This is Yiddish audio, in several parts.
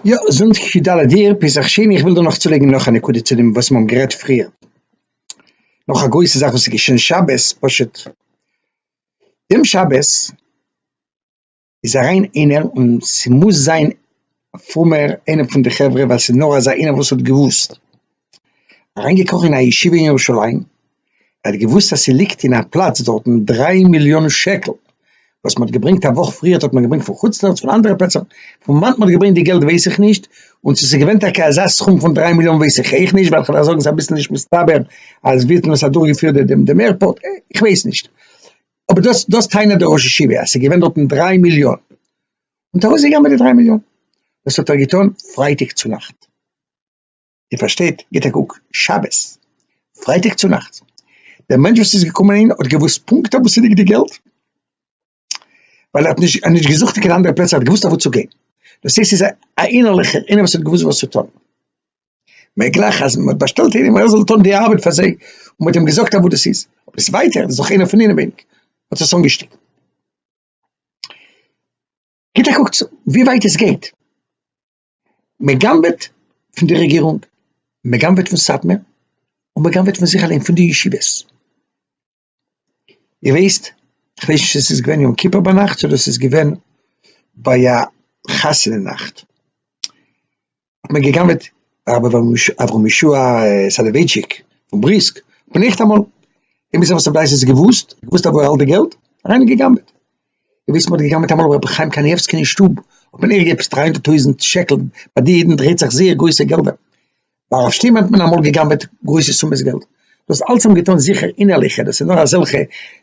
יא, זונטאג יו ד אייר פסח שני, איך וויל דא נאך צולייגן נאך א נקודה צו דעם וואס מ'האבן גערעדט פריער, נאך א גרויסע זאך וואס איז געשען שבת, פשוט דעם שבת איז אריין איינער און ס'מוז זיין א פרומער איינער פון די חברה ווייל ס'איז נאר אזא איינער וואס האט געוואוסט. אריינגעקראכן אין א ישיבה אין ירושלים, ער האט געוואוסט אז ס'ליגט אין א פלאץ דארטן דריי מיליאן שקל וואס מ'האט געברענגט א וואך פריער האט מען געברענגט פון חוץ לארץ פון אנדערע פלעצער, פון וואנעט מ'האט געברענגט די געלט ווייס איך נישט, און צו ס'איז געווען טאקע אזא סכום פון דריי מיליאן ווייס איך אויך נישט, ווייל כ'דארף זאגן ס'איז אביסל נישט מסתבר אז ווי האט מען עס אדורכגעפירט דעם דעם עירפארט, איך ווייס נישט, אבער דאס דאס טענה'ט דער ראש ישיבה אז ס'איז געווען דארטן דריי מיליאן, און טאקע אויסגעגאנגען מיט די דריי מיליאן, דאס האט ער געטון פרייטאג צונאכט. איר פארשטייט? גיט א קוק, שבת, פרייטאג צונאכטס, דער מענטש וואס איז געקומען אהין האט געוואוסט פונקט אוואו ס'ליגט די געלט, ווייל ער האט נישט נישט געזוכט אין קיין אנדערע פלעצער, ער האט געוואוסט אוואו צו גיין, דאס הייסט ס'איז א אינערליכער איינער וואס האט געוואוסט וואס צו טון, מעגליך אז מ'האט באשטעלט איינעם אז ער זאל טון די ארבעט פאר זיי, און מ'האט אים געזאגט אוואו דאס איז, אבער דאס ווייטער, דאס איז דאך איינער פון אינעווייניג, האט עס אנגעשטעלט. גיט א קוק צו ווי ווייט עס גייט. מען גנב'עט פון די רעגירונג, מען גנב'עט פון סאטמאר, און מען גנב'עט פון זיך אליין, פון די ישיבות. איר וויסט, כ'ווייס נישט צו ס'איז געווען יום כיפור ביינאכט אדער ס'איז געווען ביי א חתונה נאכט, האט מען געגנב'עט הרב אברהם ישוע סאלאווייטשיק פון בריסק, פון ניכטאמאל, און ביז עפעס א בלייז האט עס געוואוסט, געוואוסט אוואו ער האלט די געלט, אריין און געגנב'עט. און ווי עס מ'האָט געגנבעט אַמאָל רבי חיים קאַניעווסקין אין שטוב, האָט מען איבערגעפּסט דרײַ הונדערט טויזנט שקל, בײַ די ייִדן דרייט זיך זייער גרויסע געלדער. בײַ הרב שטימען האָט מען אַמאָל געגנבעט גרויסע סומעס געלט. דאָס אַלץ האָט מען געטאָן זיכער אינערליכע, דאָס איז נאָר אַזעלכע,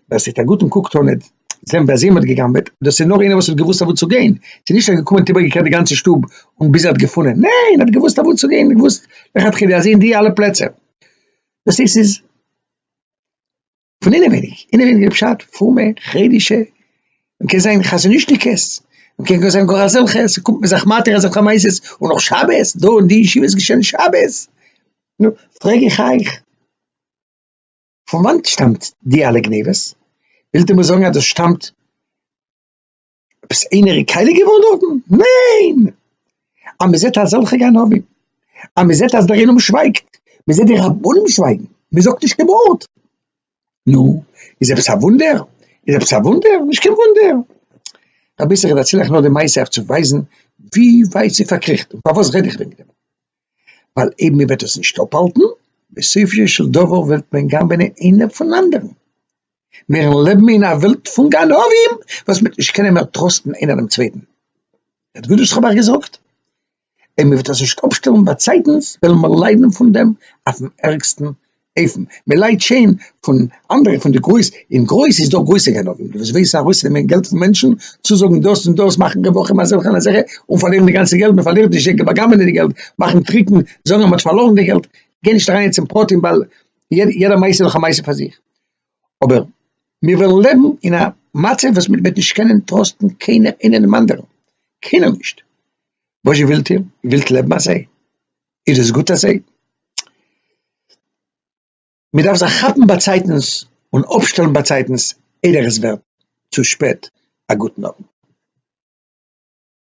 ווער ס'העט אַ גוטן קוק טאָן ניט זען בײַ זיי מ'האָט געגנבעט, דאָס איז נאָר איינער וואָס האָט געוווּסט אַוואו צו גיין, ס'איז נישט אַז געקומען און איבערגעקערט די גאַנצע שטוב און ביז ער האָט געפֿונען, ניין, ער האָט געוווּסט אַוואו צו גיין, געוווּסט לכתּחילה אַז אין די אַלע פּלעצער, דאָס איז, ס'איז. פון אינעווייניג, אינעווייניג איז פשט פרומע חרדישע, מען קען זיין חזניש'ניקעס, מען קען גאר זיין גאר אזעלכע, ס'קומט מיר זיך מתיר אזעלכע מעשות, און אויך שבת, דא אין די ישיבה איז געשען שבת, נו, פרעג איך אייך, פון וואנעט שטאמט די אלע גניבות? ווילט איר מיר זאגן אז דאס שטאמט. עפעס איינער איז קייליג געווארן דארטן? ניין! אז מען זעט אזעלכע גנבים, אז מען זעט אז דער עולם שווייגט, מען זעט די רבנים שווייגן, מען זאגט נישט קיין ווארט, נו, איז עפעס א וואונדער? איז עפעס א וואונדער? נישט קיין וואונדער! רבי זיע איך דערציל אייך נאר די מעשה אויף צו ווייזן ווי ווייט ס'איז פארקריכט און פארוואס רעד איך וועגן דעם. ווייל אויב מען וועט עס נישט אפהאלטן, בסופו של דבר וועט מען גנב'נען איינער פון אנדערן. מיר לעבן אין א וועלט פון גנבים, וואס מען וועט נישט קענען מער טראסטן איינער דעם צווייטן. הערט גוט וואס איך האב אייך געזאגט. אויב מען וועט עס נישט אפשטעלן באצייטנס, וועלן מיר ליידן פון דעם אויפ'ן ערגסטן. אויפן מ'ליידט שוין פון אנדערע פון די גרויס אין גרויס איז דא גרויסע גנבים וואס ווייסן ארויסנעמען געלט פון מענטשן צוזאגן דאס און דאס מאכן רווחים אזעלכע און אזעלכע און פארלירן די גאנצע געלט מ'פארלירט נישט זיי בא'גנב'ענען די געלט מאכן טריקן זאגן אז מ'האט פארלארן די געלט גיי נישט אריין יעצט אין פרטים ווייל יעדע מעשה איז דאך א מעשה פאר זיך אבער מיר וועלן לעבן אין א מצב וואס מ'וועט נישט קענען טראסטן קיינער אינעם אנדערן קיינער נישט וואזשע ווילט איר ווילט לעבן אזוי. איז עס גוט אזוי? מ'דארף זיך כאפן באצייטנס און אפשטעלן באצייטנס איידער עס ווערט צו שפעט, א גוטן אויבן.